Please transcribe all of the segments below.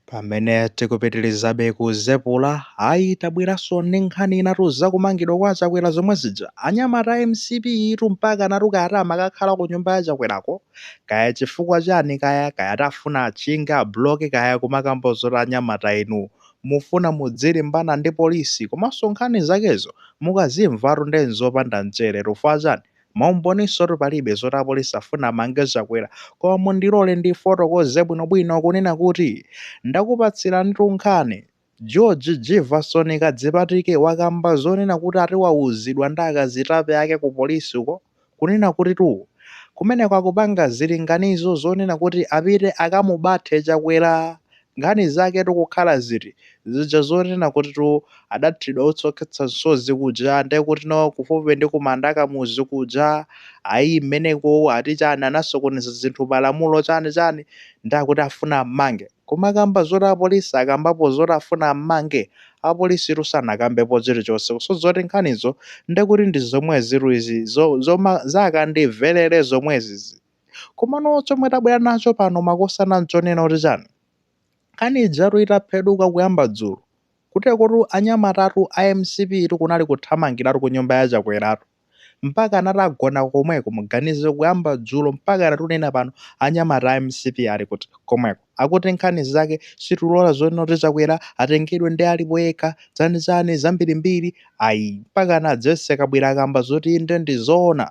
pamene tikupitirizabe kuzepula ayi tabweranso ndi nkhani inatu zakumangidwa kwa chakwera zomwe zija anyamata a mcp tu mpaka anati kaya ati amakakhala ku nyumba ya chakwerako kaya chifukwa chani kaya kaya ati afuna achinge abloke kaya kumakamba zoti anyamata inu mufuna mudzilimbana ndi polisi komanso nkhani zakezo mukazimvatu nde nzopanda mchere chifukwa chani Maumboniso oti palibe zoti apolisi afuna amange Chakwera koma mundilole ndifotokoze bwinobwino kunena kuti ndakupatsiranitu nkhani. George Jivason Kadzipatike wakamba zonena kuti ati wauzidwa ndi akazitape ake ku polisi uko kunena kutitu kumeneko akupanga zilinganizo zonena kuti apite akamubathe Chakwera Nkhani zaketu kukhala ziti? Zija zonena kutitu adathidwa utsi wokhetsa msozi kuja, ndiye kuti no kufupi ndi kumanda a Kamuzu kuja, ayi mmeneko ati chani anasokoneza zinthu pa lamulo chani chani ndiye akuti afuna ammange. Kumakamba zoti apolisi akambapo zoti afuna ammange, apolisitu sanakambepo chilichonse. So zoti nkhanizo ndiye kuti ndi zomwezitu izi zoma za kandimverere zomwezizi. Komano chomwe tabwera nacho pano makosana nchonena kuti chani? Nkhani ijatu itapheduka kuyamba dzulo, kutereku anyamatatu a mcp tu kunali kuthamangiratu ku nyumba ya Chakweratu. Mpaka anati agona komweko, muganize kuyamba dzulo mpaka lero tinena pano anyamata a mcp ali kuti? Komweko. Akuti nkhani zake sitilola zonena kuti Chakwera atengedwe nde alipo yekha, chanichani, zambirimbiri. Ayi, mpaka a Jesse Kabwira akamba zoti inde ndi zoona.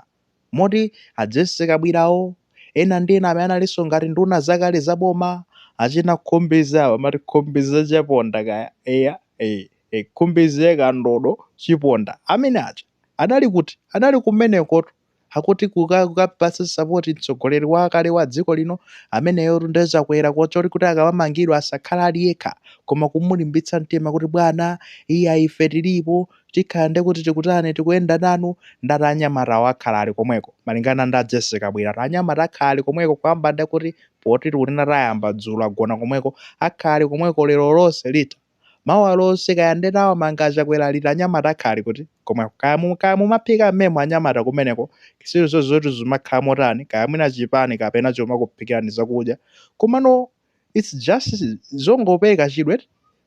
Moti a Jessy Kabwirawo, ena ndi ena amene analinso ngati nduna zakale za boma, achina Khumbize awa, amati Khumbize Chaponda kaya, eya, ee, ee, Khumbize Kandodo Chiponda amene aja, adali kuti? Anali kumenekotu, akuti kukapatsa sapoti mtsogoleri wakale wa dziko lino ameneyotu nde Chakwera choti kuti akamamangidwa asakhala ali yekha, koma kumulimbitsa mtima kuti bwana, iyayi ife tilipo, Tikhala nde kuti tikutani tikuyenda nanu ndati anyamatawo akhala ali komweko malingana ndi a Jessy Kabwila ati anyamata akhala ali komweko kamba nde kuti poti tikunena tayamba dzulo agona komweko akhala ali komweko lero lonse ati mawa lonse kaya nde atawamange a Chakwera liti anyamata akhala ali kuti komweko kaya mu kaya mumaphika mmemo anyamata kumeneko zilizonse zoti zumakhala motani kaya mwina chipani kapena chimakuphikirani zakudya komano its just zongopeka chidwe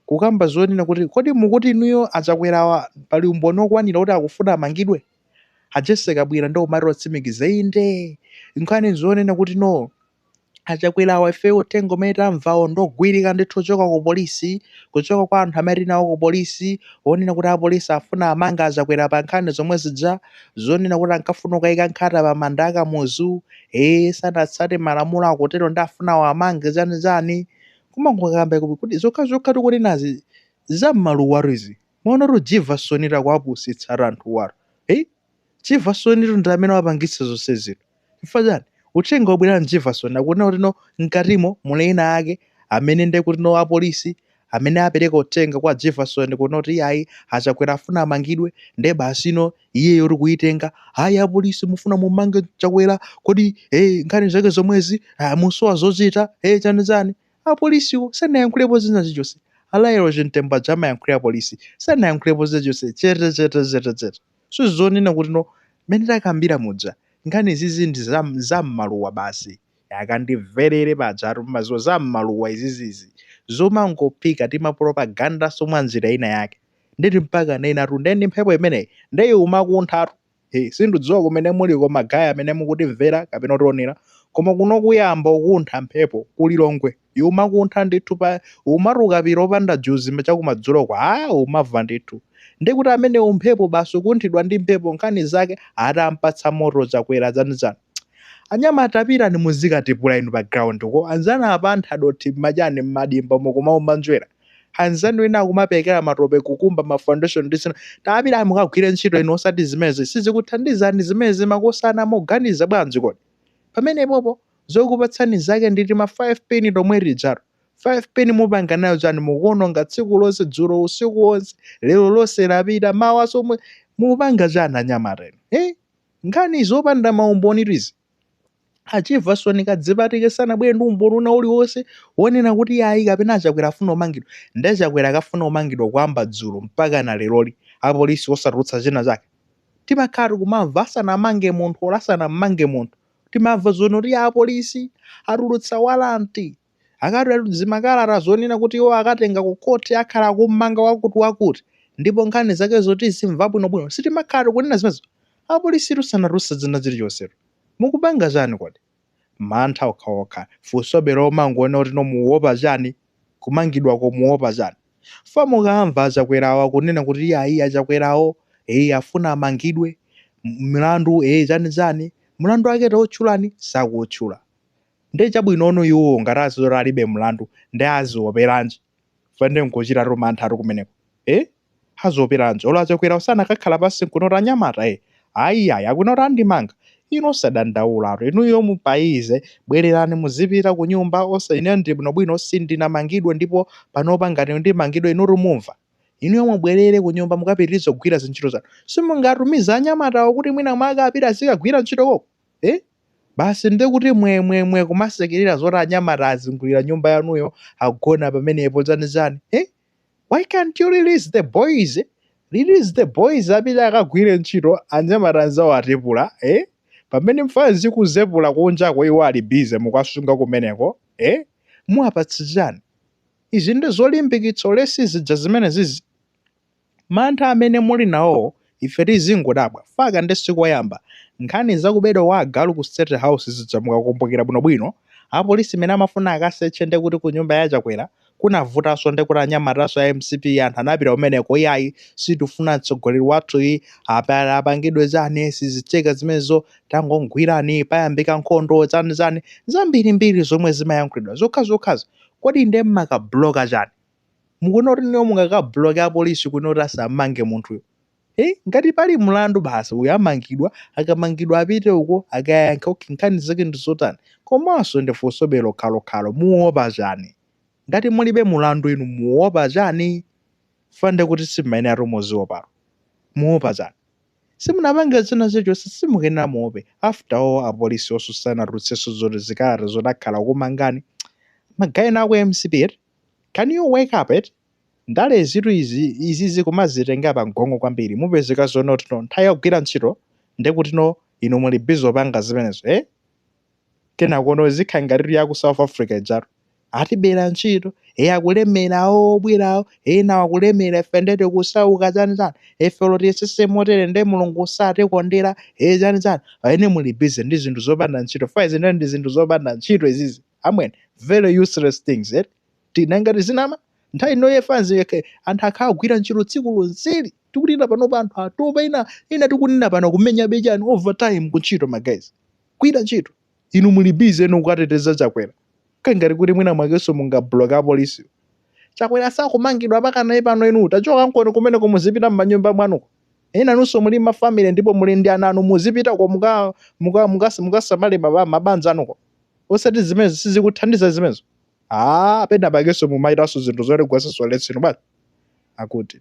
kukamba zonena kuti kodi mukuti inuyo achakwerawa pali umboni okwanira kuti akufuna amangidwe a jese kabwira ndo umati otsimikiza inde nkhani zonena kuti no achakwerawa ifeyo uthenga umene tamvawo ndogwirika ndithu kuchoka ku polisi kuchoka kwa anthu amene tinawo ku polisi onena kuti apolisi afuna amange achakwera pa nkhani zomwe zija zonena kuti ankafuna kukayika nkhata pa manda akamuzu ee sanatsate malamulo akotero nde afuna awamange chani chani kumangokamba kuti kuti zokha zokha tikunenazi zammaluwatu izi mwaonatu Jivasonitu akuwapusitsatu anthuwatu ei Jivasonitu ndi amene wapangitsa zonse zino chifukwa chani uthenga wobwera ndi Jivasoni akunena kuti no mkatimo muli ena ake amene ndekutino apolisi amene apereka uthenga kwa Jefferson kunena kuti iyayi achakwera afuna amangidwe nde basi ino iyeyo nkuyitenga ayi apolisi mufuna mumange chakwera kodi eh, nkhani zake zomwezi ah, musowa zochita eh, chani chani apolisiwo sanayankhulepo china chilichonse a Lael Chimtembo amayankhulira apolisi sanayankhulepo chilichonse chete chete chete chete so zonena kuti no mmene takambira muja nkhani izizi ndi za- za m'maluwa basi yakandimverere pajatu mumadziwa za mmaluwa izizizi zomangophika tima propagandanso mwa njira ina yake ndeti mpaka ndinenatu nde ndi mphepo imeneyi nde ikumakunthatu he sindikudziwa kumene muliko magaye amene mukutimvera kapena kutionera koma kuno kwayamba kukuntha mphepo ku Lilongwe ikumakuntha ndithu pa umati ukapita opanda juzi ma- chakumadzuloko a umamva ndithu ndi kuti imeneyi mphepo basi ukunthidwa ndi mphepo nkhani zake atampatsa moto chakwera chani chani anyamata tapitani muzikatipula inu pa ground ko anzanu apatha dothi mmachani mmadimba umo kumaumba njwera anzanu ena akumapekera matope kukumba ma foundation ndi zina tapitani mukagwire ntchito inu osati zimezi sizikuthandizani zimezi makosana moganiza bwanji kodi pamenepopo zokupatsani zake ndi tima 5 pin tomwe tijatu, 5 pin mupanga nayo chani mukuwononga tsiku lonse dzulo usiku wonse lero lonse lapita mawanso mupanga chani anyamata inu eh? nkhani zopanda maumbonitu izi a Jivason Kadzipatike sanabwere ndi umboni wina uliwonse wonena kuti ayi kapena achakwera afuna umangidwa nde achakwera akafuna umangidwa kuyamba dzulo mpaka na leroli apolisi osatulutsa china chake timakhala tikumamva asanamange munthu olo asanammange munthu Timamva zonena kuti apolisi atulutsa walanti, akatulutsa makalata zonena kuti iwo akatenga ku khoti, akhala akum'manga wakuti-wakuti, ndipo nkhani zakezo timazimva bwino-bwino. Si timakhala tikunena zimenezo. Apolisitu sanatulutse zina zilichonsetu. Mukupanga chani kodi? Mantha okhaokha. Funsobe lomangonena kuti no mukuopa chani? kumangidwako muopa chani chifukwa mukamva achakwerawo kunena kuti iyayi achakwerawo ee afuna amangidwe mlandu ee chani chani mlandu wake tautchulani sakuutchula nde chabwinono iwowo ngati aziona alibe mlandu nde azioperanji chifukwa nde nkuchitatu manthatu kumeneko ee Azoperanji? Olo achakwera wo sanakakhale pansi nkunena kuti anyamata ee ayi yayi akunena kuti andimanga, inu osadandaula tu inuyo mupayize bwelerani muzipita kunyumba osa ineyo ndili bwino bwino sindinamangidwe ndipo panopa ngati ndimangidwe inutu mumva, inuyo mubwelere kunyumba mukapitilize kugwira zintchito zanu simungatumize anyamata wo kuti mwina mwake apite azikagwira ntchito koko ee basi nde kuti mwe mwe mwe kumasekelera zoti anyamata azingulira nyumba yanuyo agona pamenepo chani chani ee. Why can't you release the boys? Release the boys apite akagwire ntchito anyamata anzawo akutepula eh? Pamene mfana zikuzepula kunjako iwo ali busy mukuwasunga kumeneko eh? Muwapatsa chani? Izi ndi zolimbikitsa ulesi zija zimene zizi. Mantha amene muli nawowo Ife tizingodabwa, faka nde sikoyamba, nkhani za kubedwa kwa agalu ku state house zija mukakumbukira bwino bwino, apolisi mene amafuna akaseche nde kuti ku nyumba ya chakwera kunavutaso nde kuti anyamataso a mcp anthu anapita kumeneko iyayi sitikufuna mtsogoleri wathu yi apa, apangidwe chani sizitheka zimenezo tangogwirani payambika nkhondo chani chani zambiri mbiri zomwe zimayankhulidwa zokhazokhazo kodi nde mmakabuloka chani? Mukuona kuti inuyo mungakabloke apolisi kunena kuti asamange munthuyo eh? Ngati pali mlandu basi uyo amangidwa, akamangidwa apite uko akayankhe okay, nkhani zake ndi zotani? Komanso ndifunsobe lokhalokhalo, muopa chani? Ngati mulibe mlandu inu muopa chani? Chifukwa ndiye kuti simumayeneratu muziopatu, muopa chani? Simunapange china chilichonse, simukuyenera muope. After all apolisi onso sanatulutsenso zoti zikalata zoti akhala akumangani ma guys ena aku mcp eti? Can you wake up eti? Ndalezitu izi, izizi kumazitengera pa mgongo kwambiri, mupezeka zonena kuti no nthawi yogwira ntchito ndekutino inu muli busy opanga zimenezo ee? Kenakono izikhala ngatitu ya ku South Africa ijatu, atibera ntchito, ee akulemera awo obwerawo, ee nawo akulemera ife nde tikusauka chani chani, ife olo tiyesese motere nde Mulungu satikondera ee chani chani, aa inu muli busy ndi zinthu zopanda ntchito, fwaizi nde ndi zinthu zopanda ntchito izizi. amwene very useless things eti ti nanga tizinama nthawi ino ye mfanazi anthu akhala kugwira ntchito tsiku lonseli tikunena panopa anthu atopa ina ina tikunena pano kumenyabe chani overtime ku ntchito ma guys gwira ntchito inu muli busy eno kukateteza chakwera kaya ngati kuti mwina mwakenso mungabloka apolisi chakwera sakumangidwa mpaka naye pano inu tachokankoni kumeneko muzipita m'manyumba mwanuko enanunso muli mafamily ndipo muli ndi ana anu muzipitako muka muka mukas- mukasamale maba- mabanja anuko osati zimenezo sizikuthandiza zimenezo ah pena pakeso mumaitaso zinthu zoti gwesa ulesi no basi akuti